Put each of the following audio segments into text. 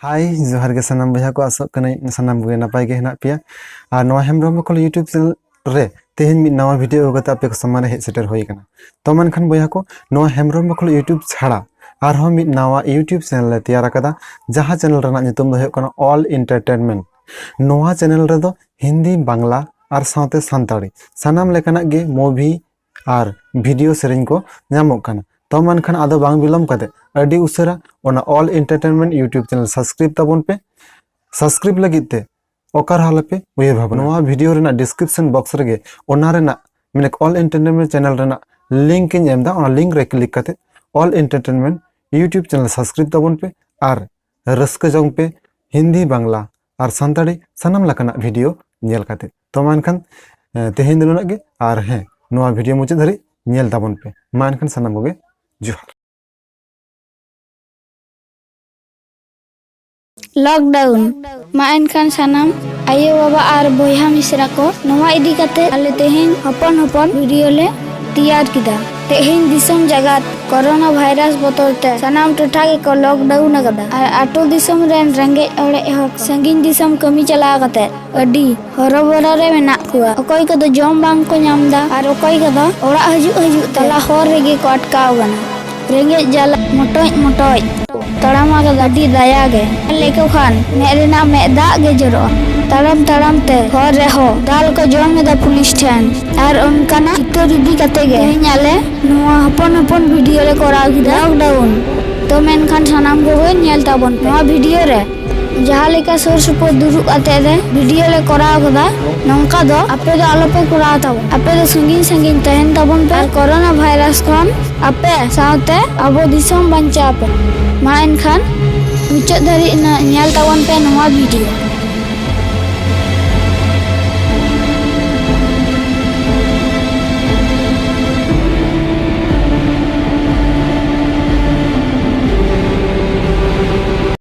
ᱦᱟᱭ ᱡᱚᱦᱟᱨ ᱜᱮ ᱥᱟᱱᱟᱢ ᱵᱚᱭᱦᱟ ᱠᱚ ᱟᱥᱚᱜ ᱠᱟᱹᱱᱟᱹᱧ ᱥᱟᱱᱟᱢ ᱠᱚᱜᱮ ᱱᱟᱯᱟᱭ ᱜᱮ ᱦᱮᱱᱟᱜ ᱯᱮᱭᱟ ᱟᱨ ᱱᱚᱣᱟ ᱦᱮᱢᱵᱨᱚᱢ ᱢᱚᱠᱚᱞ ᱤᱭᱩᱴᱩᱵᱽ ᱪᱮᱱᱮᱞ ᱨᱮ ᱛᱮᱦᱮᱧ ᱢᱤᱫ ᱱᱟᱣᱟ ᱵᱷᱤᱰᱤᱭᱳ ᱟᱹᱜᱩ ᱠᱟᱛᱮ ᱟᱯᱮ ᱠᱚ ᱥᱟᱢᱟᱝ ᱨᱮ ᱦᱮᱡ ᱥᱮᱴᱮᱨ ᱦᱩᱭ ᱟᱠᱟᱱᱟ ᱛᱚ ᱢᱮᱱᱠᱷᱟᱱ ᱵᱚᱭᱦᱟ ᱠᱚ ᱱᱚᱣᱟ ᱦᱮᱢᱵᱨᱚᱢ ᱢᱚᱠᱚᱞ ᱤᱭᱩᱴᱩᱵᱽ ᱪᱷᱟᱲᱟ ᱟᱨᱦᱚᱸ ᱢᱤᱫ ᱱᱟᱣᱟ ᱤᱭᱩᱴᱩᱵᱽ ᱪᱮᱱᱮᱞ ᱞᱮ ᱛᱮᱭᱟᱨ ᱟᱠᱟᱫᱟ ᱡᱟᱦᱟᱸ ᱪᱮᱱᱮᱞ ᱨᱮᱱᱟᱜ ᱧᱩᱛᱩᱢ ᱫᱚ ᱦᱩᱭᱩᱜ ᱠᱟᱱᱟ ᱚᱞ ᱤᱱᱴᱟᱨᱴᱮᱱᱢᱮᱱᱴ ᱱᱚᱣᱟ ᱪᱮᱱᱮᱞ ᱨᱮᱫᱚ ᱦᱤᱱᱫᱤ ᱵᱟᱝᱞᱟ ᱟᱨ ᱥᱟᱶᱛᱮ ᱥᱟᱱᱛᱟᱲᱤ ᱥᱟᱱᱟᱢ ᱞᱮᱠᱟᱱᱟᱜ ᱜᱮ ᱢᱩᱵᱷᱤ ᱟᱨ ᱵᱷᱤᱰᱤᱭᱳ ᱥᱮᱨᱮᱧ ᱠᱚ ᱧᱟᱢᱚᱜ ᱠᱟᱱᱟ ᱛᱚ ᱢᱮᱱᱠᱷᱟᱱ ᱟᱫᱚ ᱵᱟᱝ ᱵᱤᱞᱚᱢ ᱠᱟᱛᱮ ᱟᱹᱰᱤ ᱩᱥᱟᱹᱨᱟ ᱚᱱᱟ Ol entertainment YouTube channel subscribe ᱛᱟᱵᱚᱱ ᱯᱮ ᱥᱟᱵᱥᱠᱨᱟᱭᱤᱵ ᱞᱟᱹᱜᱤᱫ ᱛᱮ ᱚᱠᱟᱨ ᱦᱟᱞᱟᱯᱮ ᱩᱭᱦᱟᱹᱨ ᱵᱷᱟᱵᱽᱱᱟ ᱱᱚᱣᱟ ᱵᱷᱤᱰᱤᱭᱳ ᱨᱮᱱᱟᱜ ᱰᱤᱥᱠᱨᱤᱯᱥᱚᱱ ᱵᱚᱠᱥ ᱨᱮᱜᱮ ᱚᱱᱟ ᱨᱮᱱᱟᱜ ᱢᱟᱱᱮ ᱚᱞ ᱮᱱᱴᱟᱨᱴᱮᱱᱢᱮᱱᱴ ᱪᱮᱱᱮᱞ ᱨᱮᱱᱟᱜ ᱞᱤᱝᱠ ᱤᱧ ᱮᱢ ᱮᱫᱟ ᱚᱱᱟ ᱞᱤᱝᱠ ᱨᱮ ᱠᱞᱤᱠ ᱠᱟᱛᱮ ᱚᱞ ᱮᱱᱴᱟᱨᱴᱮᱱᱢᱮᱱᱴ ᱤᱭᱩᱴᱩᱵᱽ ᱪᱮᱱᱮᱞ ᱥᱟᱵᱥᱠᱨᱟᱭᱤᱵ ᱛᱟᱵᱚᱱ ᱯᱮ ᱟᱨ ᱨᱟᱹᱥᱠᱟᱹ ᱡᱚᱝ ᱯᱮ ᱦᱤᱱᱫᱤ ᱵᱟᱝᱞᱟ ᱟᱨ ᱥᱟᱱᱛᱟᱲᱤ ᱥᱟᱱᱟᱢ ᱞᱮᱠᱟᱱᱟᱜ ᱵᱷᱤᱰᱤᱭᱳ ᱧᱮᱞ ᱠᱟᱛᱮ ᱛᱚ ᱢᱟ ᱮᱱᱠᱷᱟᱱ ᱛᱮᱦᱮᱧ ᱫᱚ ᱱᱩᱱᱟᱹᱜ ᱜᱮ ᱟᱨ ᱦᱮᱸ ᱱᱚᱣᱟ ᱵᱷᱤᱰᱤᱭᱳ ᱢᱩᱪᱟᱹᱫ ᱫᱷᱟᱹᱨᱤᱡ ᱧᱮᱞ ᱛᱟᱵᱚᱱ ᱯᱮ ᱢᱟ ᱮᱱᱠᱷᱟᱱ ᱥᱟᱱᱟᱢ ᱠᱚᱜᱮ ᱡᱚᱦᱟᱨ ᱞᱚᱠᱰᱟᱣᱩᱱ ᱢᱟ ᱮᱱᱠᱷᱟᱱ ᱥᱟᱱᱟᱢ ᱟᱭᱳ ᱵᱟᱵᱟ ᱟᱨ ᱵᱚᱭᱦᱟ ᱢᱤᱥᱨᱟ ᱠᱚ ᱱᱚᱣᱟ ᱤᱫᱤ ᱠᱟᱛᱮ ᱟᱞᱮ ᱛᱮᱦᱮᱧ ᱦᱚᱯᱚᱱ ᱦᱚᱯᱚᱱ ᱵᱷᱤᱰᱤᱭᱳ ᱞᱮ ᱛᱮᱭᱟᱨ ᱠᱮᱫᱟ ᱛᱮᱦᱮᱧ ᱫᱤᱥᱚᱢ ᱡᱟᱜᱟᱛ ᱠᱚᱨᱳᱱᱟ ᱵᱷᱟᱭᱨᱟᱥ ᱵᱚᱛᱚᱨ ᱛᱮ ᱥᱟᱱᱟᱢ ᱴᱚᱴᱷᱟ ᱜᱮᱠᱚ ᱞᱚᱠᱰᱟᱣᱩᱱ ᱟᱠᱟᱫᱟ ᱟᱨ ᱟᱹᱛᱩ ᱫᱤᱥᱚᱢ ᱨᱮᱱ ᱨᱮᱸᱜᱮᱡ ᱚᱲᱮᱡ ᱦᱚᱲ ᱥᱟᱺᱜᱤᱧ ᱫᱤᱥᱚᱢ ᱠᱟᱹᱢᱤ ᱪᱟᱞᱟᱣ ᱠᱟᱛᱮ ᱟᱹᱰᱤ ᱦᱚᱨᱚᱵᱚᱨᱚ ᱨᱮ ᱢᱮᱱᱟᱜ ᱠᱚᱣᱟ ᱚᱠᱚᱭ ᱠᱚᱫᱚ ᱡᱚᱢ ᱵᱟᱝ ᱠᱚ ᱧᱟᱢ ᱮᱫᱟ ᱟᱨ ᱚᱠᱚᱭ ᱠᱚᱫᱚ ᱚᱲᱟᱜ ᱦᱤᱡᱩᱜ ᱦᱤᱡᱩᱜ ᱛᱟᱞᱟ ᱦᱚᱨ ᱨᱮᱜᱮ ᱠᱚ ᱟᱴᱠᱟᱣ ᱟᱠᱟᱱᱟ ᱨᱮᱸᱜᱮᱡ ᱡᱟᱞᱟ ᱢᱚᱴᱚᱡ ᱢᱚᱴᱚᱡ ᱛᱟᱲᱟᱢ ᱟᱨ ᱜᱟᱹᱰᱤ ᱫᱟᱭᱟ ᱜᱮ ᱧᱮᱞ ᱞᱮᱠᱚ ᱠᱷᱟᱱ ᱢᱮᱫ ᱨᱮᱱᱟᱜ ᱢᱮᱫ ᱫᱟᱜ ᱜᱮ ᱡᱚᱨᱚᱜᱼᱟ᱾ ᱛᱟᱲᱟᱢ ᱛᱟᱲᱟᱢ ᱛᱮ ᱦᱚᱨ ᱨᱮᱦᱚᱸ ᱫᱟᱞ ᱠᱚ ᱡᱚᱢ ᱮᱫᱟ ᱯᱩᱞᱤᱥ ᱴᱷᱮᱱ ᱟᱨ ᱚᱱᱠᱟᱱᱟᱜ ᱪᱤᱛᱟᱹᱨ ᱤᱫᱤ ᱠᱟᱛᱮ ᱜᱮ ᱛᱮᱦᱮᱧ ᱟᱞᱮ ᱱᱚᱣᱟ ᱦᱚᱯᱚᱱ ᱦᱚᱯᱚᱱ ᱵᱷᱤᱰᱤᱭᱳ ᱞᱮ ᱠᱚᱨᱟᱣ ᱠᱮᱫᱟ ᱞᱚᱠᱰᱟᱣᱩᱱ ᱛᱚ ᱢᱮᱱᱠᱷᱟᱱ ᱥᱟᱱᱟᱢ ᱠᱚᱜᱮ ᱧᱮᱞ ᱛᱟᱵᱚᱱ ᱯᱮ ᱱᱚᱣᱟ ᱵᱷᱤᱰᱤᱭᱳ ᱨᱮ᱾ ᱡᱟᱦᱟᱸ ᱞᱮᱠᱟ ᱥᱩᱨ ᱥᱩᱯᱩᱨ ᱫᱩᱲᱩᱵ ᱠᱟᱛᱮ ᱨᱮ ᱵᱷᱤᱰᱤᱭᱳ ᱞᱮ ᱠᱚᱨᱟᱣ ᱠᱟᱫᱟ ᱱᱚᱝᱠᱟ ᱫᱚ ᱟᱯᱮ ᱫᱚ ᱟᱞᱚᱯᱮ ᱠᱚᱨᱟᱣ ᱛᱟᱵᱚᱱ ᱟᱯᱮ ᱫᱚ ᱥᱟᱺᱜᱤᱧ ᱥᱟᱺᱜᱤᱧ ᱛᱟᱦᱮᱱ ᱛᱟᱵᱚᱱ ᱯᱮ ᱠᱚᱨᱳᱱᱟ ᱵᱷᱟᱭᱨᱟᱥ ᱠᱷᱚᱱ ᱟᱯᱮ ᱥᱟᱶᱛᱮ ᱟᱵᱚ ᱫᱤᱥᱚᱢ ᱵᱟᱧᱪᱟᱣ ᱯᱮ ᱢᱟ ᱮᱱᱠᱷᱟᱱ ᱢᱩᱪᱟᱹᱫ ᱫᱷᱟᱹᱨᱤᱡ ᱧᱮᱞ ᱛᱟᱵᱚᱱ ᱯᱮ ᱱᱚᱣᱟ ᱵᱷᱤᱰᱤᱭᱳ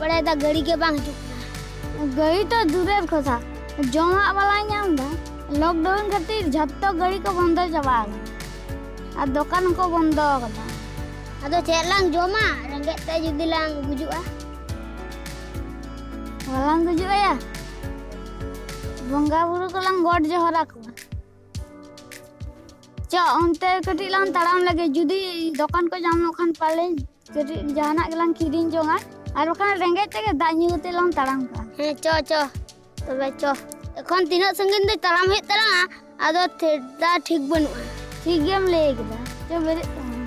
ᱵᱟᱲᱟᱭᱮᱫᱟ ᱜᱟᱹᱲᱤ ᱜᱮ ᱵᱟᱝ ᱦᱤᱡᱩᱜ ᱠᱟᱱᱟ ᱜᱟᱹᱲᱤ ᱛᱚ ᱫᱩᱨᱮᱨ ᱠᱚᱛᱷᱟ ᱡᱚᱢᱟᱜ ᱵᱟᱞᱟᱭ ᱧᱟᱢ ᱮᱫᱟ ᱞᱚᱠᱰᱟᱣᱩᱱ ᱠᱷᱟᱹᱛᱤᱨ ᱡᱷᱚᱛᱚ ᱜᱟᱹᱲᱤ ᱠᱚ ᱵᱚᱱᱫᱚ ᱪᱟᱵᱟ ᱟᱠᱟᱱᱟ ᱟᱨ ᱫᱚᱠᱟᱱ ᱦᱚᱸᱠᱚ ᱵᱚᱱᱫᱚ ᱟᱠᱟᱫᱟ ᱟᱫᱚ ᱪᱮᱫ ᱞᱟᱝ ᱡᱚᱢᱟ ᱨᱮᱸᱜᱮᱡ ᱛᱮ ᱡᱩᱫᱤ ᱞᱟᱝ ᱜᱩᱡᱩᱜᱼᱟ ᱵᱟᱞᱟᱝ ᱜᱩᱡᱩᱜᱼᱟ ᱵᱚᱸᱜᱟ ᱵᱩᱨᱩ ᱠᱚᱞᱟᱝ ᱜᱚᱰ ᱡᱚᱦᱟᱨ ᱟᱠᱚᱣᱟ ᱪᱚ ᱚᱱᱛᱮ ᱠᱟᱹᱴᱤᱡ ᱞᱟᱝ ᱛᱟᱲᱟᱢ ᱞᱮᱜᱮ ᱡᱩᱫᱤ ᱫᱚᱠᱟᱱ ᱠᱚ ᱧᱟᱢᱚᱜ ᱠᱷᱟᱱ ᱯᱟᱞᱮ ᱠᱟᱹᱴᱤᱡ ᱡᱟᱦᱟᱱᱟᱜ ᱜᱮᱞᱟᱝ ᱠᱤᱨᱤᱧ ᱡᱚᱝᱟ ᱟᱨ ᱵᱟᱠᱷᱟᱱ ᱨᱮᱸᱜᱮᱡ ᱛᱮᱜᱮ ᱫᱟᱜ ᱧᱩ ᱠᱟᱛᱮ ᱞᱟᱝ ᱛᱟᱲᱟᱢ ᱠᱟᱜᱼᱟ ᱦᱮᱸ ᱪᱚ ᱪᱚ ᱛᱚᱵᱮ ᱪᱚ ᱮᱠᱷᱚᱱ ᱛᱤᱱᱟᱹᱜ ᱥᱟᱺᱜᱤᱧ ᱫᱚ ᱛᱟᱲᱟᱢ ᱦᱩᱭᱩᱜ ᱛᱟᱞᱟᱝᱟ ᱟᱫᱚ ᱴᱷᱮᱰᱟ ᱴᱷᱤᱠ ᱵᱟᱹᱱᱩᱜᱼᱟ ᱴᱷᱤᱠ ᱜᱮᱢ ᱞᱟᱹᱭ ᱠᱮᱫᱟ ᱪᱚ ᱵᱮᱨᱮᱫ ᱛᱟᱞᱟᱝ ᱢᱮ᱾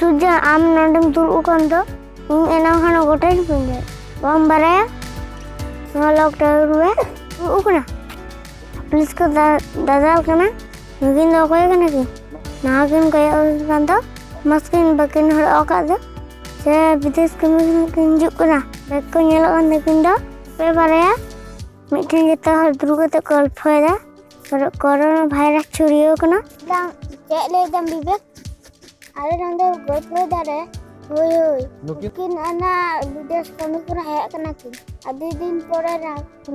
ᱥᱩᱡᱟ ᱟᱢ ᱱᱚᱰᱮᱢ ᱫᱩᱲᱩᱵ ᱟᱠᱟᱱ ᱫᱚ ᱤᱧ ᱮᱱᱟᱝ ᱠᱷᱚᱱ ᱜᱚᱴᱟᱧ ᱯᱟᱸᱡᱟᱭ ᱵᱟᱢ ᱵᱟᱲᱟᱭᱟ ᱱᱚᱣᱟ ᱞᱚᱠ ᱴᱟᱣᱟᱨ ᱨᱮ ᱫᱩᱲᱩᱵ ᱠᱟᱱᱟ ᱯᱩᱞᱤᱥ ᱠᱚ ᱫᱟᱫᱟᱞ ᱠᱟᱱᱟ ᱱᱩᱠᱤᱱ ᱫᱚ ᱚᱠᱚᱭ ᱠᱟᱱᱟ ᱠᱤᱱ ᱱᱟᱣᱟ ᱠᱤᱱ ᱠᱚᱭᱚᱜ ᱠᱟᱱ ᱫᱚ ᱢᱟᱥᱠ ᱠᱤᱱ ᱵᱟᱹᱠᱤᱱ ᱦᱚᱨᱚᱜ ᱟᱠᱟᱫ ᱫᱚ ᱥᱮ ᱵᱤᱫᱮᱥ ᱠᱟᱹᱢᱤ ᱠᱤᱱ ᱦᱤᱡᱩᱜ ᱠᱟᱱᱟ ᱵᱮᱜᱽ ᱠᱚ ᱧᱮᱞᱚᱜ ᱠᱟᱱ ᱛᱟᱹᱠᱤᱱ ᱫᱚ ᱯᱮ ᱵᱟᱨᱭᱟ ᱢᱤᱫᱴᱷᱮᱱ ᱡᱚᱛᱚ ᱦᱚᱲ ᱫᱩᱲᱩᱵ ᱠᱟᱛᱮ ᱜᱚᱞᱯᱷᱚᱭᱮᱫᱟ ᱠᱚᱨᱳᱱᱟ ᱵᱷᱟᱭᱨᱟᱥ ᱪᱷᱩᱲᱭᱟᱹᱣ ᱠᱟᱱᱟ ᱪᱮᱫ ᱞᱟᱹᱭ ᱫᱟᱢ ᱵᱤᱵᱮᱠ ᱟᱞᱮ ᱱᱚᱰᱮ ᱜᱚᱞᱯᱚ ᱫᱟᱨᱮ ᱦᱳᱭ ᱦᱳᱭ ᱱᱩᱠᱤᱱ ᱚᱱᱟ ᱵᱤᱫᱮᱥ ᱠᱟᱹᱢᱤ ᱠᱚᱨᱮ ᱦᱮᱡ ᱠᱟᱱᱟ ᱠᱤᱱ ᱟᱹᱰᱤ ᱫᱤᱱ ᱯᱚᱨᱮ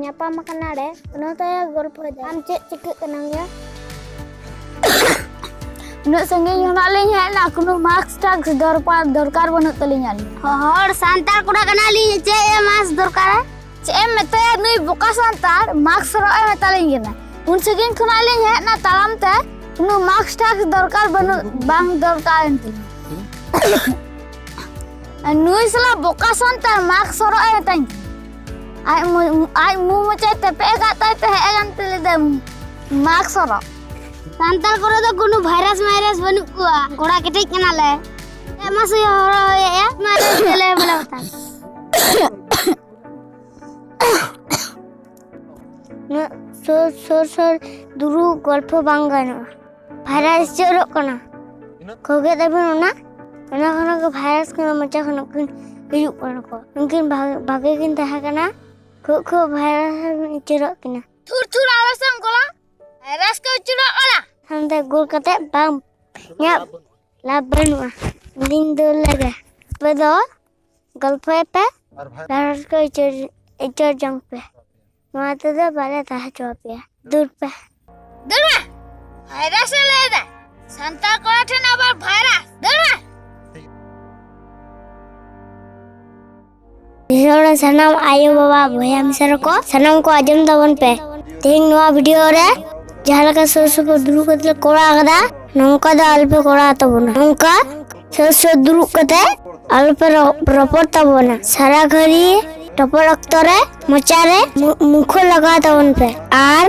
ᱧᱟᱯᱟᱢ ᱠᱟᱱᱟ ᱞᱮ ᱚᱱᱟ ᱛᱮ ᱜᱚᱞᱯᱚ ᱫᱟ ᱟᱢ ᱪᱮᱫ ᱪᱤᱠᱟᱹᱜ ᱠᱟᱱᱟᱢ ᱭᱟ ᱩᱱᱟᱹᱜ ᱥᱟᱺᱜᱤᱧ ᱠᱷᱚᱱᱟᱜ ᱞᱤᱧ ᱦᱮᱡ ᱮᱱᱟ ᱠᱳᱱᱳ ᱢᱟᱥᱠ ᱴᱟᱠᱥ ᱫᱚᱨᱠᱟᱨ ᱫᱚᱨᱠᱟᱨ ᱵᱟᱹᱱᱩᱜ ᱛᱟᱹᱞᱤᱧᱟ ᱦᱚᱲ ᱥᱟᱱᱛᱟᱲ ᱠᱚᱲᱟ ᱠᱟᱱᱟᱞᱤᱧ ᱪᱮᱫ ᱢᱟᱥᱠ ᱫᱚᱨᱠᱟᱨᱟ ᱪᱮᱫ ᱮᱢ ᱢᱮᱛᱟᱭᱟ ᱱᱩᱭ ᱵᱚᱠᱟ ᱥᱟᱱᱛᱟᱲ ᱢᱟᱠᱥ ᱦᱚᱨᱚᱜ ᱮ ᱢᱮᱛᱟᱞᱤᱧ ᱠᱟᱱᱟ ᱩᱱ ᱥᱟᱺᱜᱤᱧ ᱠᱷᱚᱱᱟᱜ ᱞᱤᱧ ᱦᱮᱡ ᱮᱱᱟ ᱛᱟᱲᱟᱢ ᱛᱮ ᱩᱱᱟᱹᱜ ᱢᱟᱠᱥ ᱴᱟᱠᱥ ᱫᱚᱨᱠᱟᱨ ᱵᱟᱹᱱᱩᱜ ᱵᱟᱝ ᱫᱚᱨᱠᱟᱨ ᱮᱱ ᱛᱤᱧᱟ ᱱᱩᱭ ᱥᱟᱞᱟ ᱵᱚᱠᱟ ᱥᱟᱱᱛᱟᱲ ᱢᱟᱠᱥ ᱦᱚᱨᱚᱜ ᱮ ᱢᱮᱛᱟᱧ ᱠᱟᱱᱟ ᱟᱡ ᱟᱡ ᱢᱩ ᱢᱚᱪᱟᱭ ᱛᱮᱯᱮ ᱟᱠᱟᱫ ᱛᱟᱭ ᱛᱮ ᱦᱮᱡ ᱟᱠᱟᱱ ᱛᱮ ᱞᱟᱹᱭᱫᱟ ᱢᱟᱠᱥ ᱦᱚᱨᱚᱜ ᱥᱟᱱᱛᱟᱲ ᱠᱚᱨᱮ ᱫᱚ ᱠᱳᱱᱳ ᱵᱷᱟᱭᱨᱟᱥ ᱢᱟᱭᱨᱟᱥ ᱵᱟᱹᱱᱩᱜ ᱠᱚᱣᱟ ᱜᱚᱲᱟ ᱠᱮᱴᱮᱡ ᱠᱟᱱᱟᱞᱮ ᱮᱢᱟ ᱥᱩᱭ ᱦᱚᱨᱚᱜ ᱦᱩᱭᱮᱜᱼᱟ ᱢᱟᱨᱮ ᱛᱮᱞᱮ ᱵᱚᱞᱮ ᱵᱟᱛᱟᱝ ᱱᱩᱱᱟᱹᱜ ᱥᱩᱨ ᱥᱩᱨ ᱥᱩᱨ ᱫᱩᱲᱩᱵ ᱜᱚᱞᱯᱷᱚ ᱵᱟᱝ ᱜᱟᱱᱚᱜᱼᱟ ᱵᱷᱟᱭᱨᱟᱥ ᱡᱚᱨᱚᱜ ᱠᱟᱱᱟ ᱠᱷᱚᱜᱮ ᱛᱟᱵᱚᱱ ᱚᱱᱟ ᱚᱱᱟ ᱠᱷᱚᱱᱟᱜ ᱜᱮ ᱵᱷᱟᱭᱨᱟᱥ ᱠᱟᱱᱟ ᱢᱚᱪᱟ ᱠᱷᱚᱱᱟᱜ ᱠᱤᱱ ᱦᱤᱡᱩᱜ ᱠᱟᱱᱟ ᱠᱚ ᱩᱱᱠᱤᱱ ᱵᱷᱟᱜᱮ ᱠᱤᱱ ᱛᱟᱦᱮᱸ ᱠᱟᱱᱟ ᱠᱷᱩᱜ ᱠᱷᱩᱜ ᱵᱷᱟᱭᱨᱟᱥ ᱩᱪᱟᱹᱨᱚᱜ ᱠᱤᱱᱟ ᱛᱷᱩᱨ ᱛᱷᱩᱨ ᱟᱞᱚ ᱥᱟᱝ ᱜᱚᱞᱟ ᱵᱷᱟᱭᱨᱟᱥ ᱠᱚ ᱩᱪᱟᱹᱨᱚᱜ ᱠᱟᱱᱟ ᱦᱟᱱᱛᱮ ᱜᱳᱞ ᱠᱟᱛᱮ ᱵᱟᱝ ᱤᱧᱟᱹᱜ ᱞᱟᱵᱷ ᱵᱟᱹᱱᱩᱜᱼᱟ ᱤᱧ ᱫᱚ ᱞᱟᱜᱟ ᱟᱯᱮ ᱫᱚ ᱜᱚᱞᱯᱷᱚᱭ ᱯᱮ ᱟᱨ ᱠᱚ ᱟᱹᱭᱪᱟᱹᱲ ᱟᱹᱭᱪᱟᱹᱲ ᱡᱚᱝ ᱯᱮ ᱱᱚᱣᱟ ᱛᱮᱫᱚ ᱵᱟᱞᱮ ᱛᱟᱦᱮᱸ ᱦᱚᱪᱚ ᱟᱯᱮᱭᱟ ᱫᱩᱨ ᱯᱮ ᱫᱩᱨ ᱢᱮ ᱵᱷᱟᱭᱨᱟᱥ ᱮ ᱞᱟᱹᱭᱫᱟ ᱥᱟᱱᱛᱟᱲ ᱠᱚᱲᱟ ᱴᱷᱮᱱ ᱟᱵᱟᱨ ᱵᱷᱟᱭᱨᱟᱥ ᱫᱩᱨ ᱢᱮ ᱫᱤᱥᱚᱢ ᱨᱮ ᱥᱟᱱᱟᱢ ᱟᱭᱳ ᱵᱟᱵᱟ ᱵᱚᱭᱦᱟ ᱢᱤᱥᱨᱟ ᱠᱚ ᱥᱟᱱᱟᱢ ᱠᱚ ᱟᱸᱡᱚᱢ ᱛᱟᱵᱚᱱ ᱯᱮ ᱛᱮᱦᱮᱧ ᱱᱚᱣᱟ ᱵᱷᱤᱰᱤᱭᱳ ᱨᱮ ᱡᱟᱦᱟᱸ ᱞᱮᱠᱟ ᱥᱩᱨ ᱥᱩᱯᱩᱨ ᱫᱩᱲᱩᱵ ᱠᱟᱛᱮ ᱞᱮ ᱠᱚᱨᱟᱣ ᱠᱟᱫᱟ ᱱᱚᱝᱠᱟ ᱫᱚ ᱟᱞᱚᱯᱮ ᱠᱚᱨᱟᱣ ᱛᱟᱵᱚᱱᱟ ᱱᱚᱝᱠᱟ ᱥᱚᱥᱚ ᱫᱩᱲᱩᱵ ᱠᱟᱛᱮ ᱟᱞᱚ ᱯᱮ ᱨᱚᱯᱚᱲ ᱛᱟᱵᱚᱱᱟ ᱥᱟᱨᱟ ᱜᱷᱟᱹᱲᱤ ᱨᱚᱯᱚᱲ ᱚᱠᱛᱚ ᱨᱮ ᱢᱚᱪᱟ ᱨᱮ ᱢᱩᱠᱷᱚ ᱞᱟᱜᱟᱣ ᱛᱟᱵᱚᱱ ᱯᱮ ᱟᱨ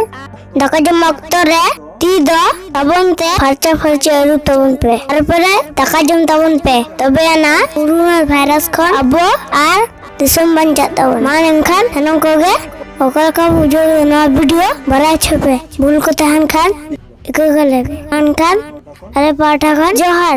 ᱫᱟᱠᱟ ᱡᱚᱢ ᱚᱠᱛᱚ ᱨᱮ ᱛᱤ ᱫᱚ ᱛᱟᱵᱚᱱ ᱛᱮ ᱯᱷᱟᱨᱪᱟ ᱯᱷᱟᱨᱪᱟ ᱟᱹᱨᱩᱵ ᱛᱟᱵᱚᱱ ᱯᱮ ᱛᱟᱨᱯᱚᱨᱮ ᱫᱟᱠᱟ ᱡᱚᱢ ᱛᱟᱵᱚᱱ ᱯᱮ ᱛᱚᱵᱮ ᱟᱱᱟ ᱠᱳᱨᱳᱱᱟ ᱵᱷᱟᱭᱨᱟᱥ ᱠᱷᱚᱱ ᱟᱵᱚ ᱟᱨ ᱫᱤᱥᱚᱢ ᱵᱟᱧᱪᱟᱜ ᱛᱟᱵᱚᱱ ᱢᱟ ᱮᱱᱠᱷᱟᱱ ᱥᱟᱱᱟᱢ ᱠᱚᱜᱮ ᱚᱠᱟ ᱞᱮᱠᱟ ᱵᱩᱡᱷᱟᱹᱣ ᱱᱚᱣᱟ ᱵᱷᱤᱰᱤᱭᱳ ᱵᱟᱲᱟᱭ ᱦᱚᱪᱚ ᱯᱮ ᱵᱷᱩᱞ ᱠᱚ ᱛᱟᱦᱮᱱ ᱠᱷᱟᱱ ᱜᱟᱹᱜᱟᱹ ᱞᱮ ᱢᱮᱱᱠᱷᱟᱱ ᱟᱞᱮ ᱯᱟᱦᱴᱟ ᱠᱷᱚᱱ ᱡᱚᱦᱟᱨ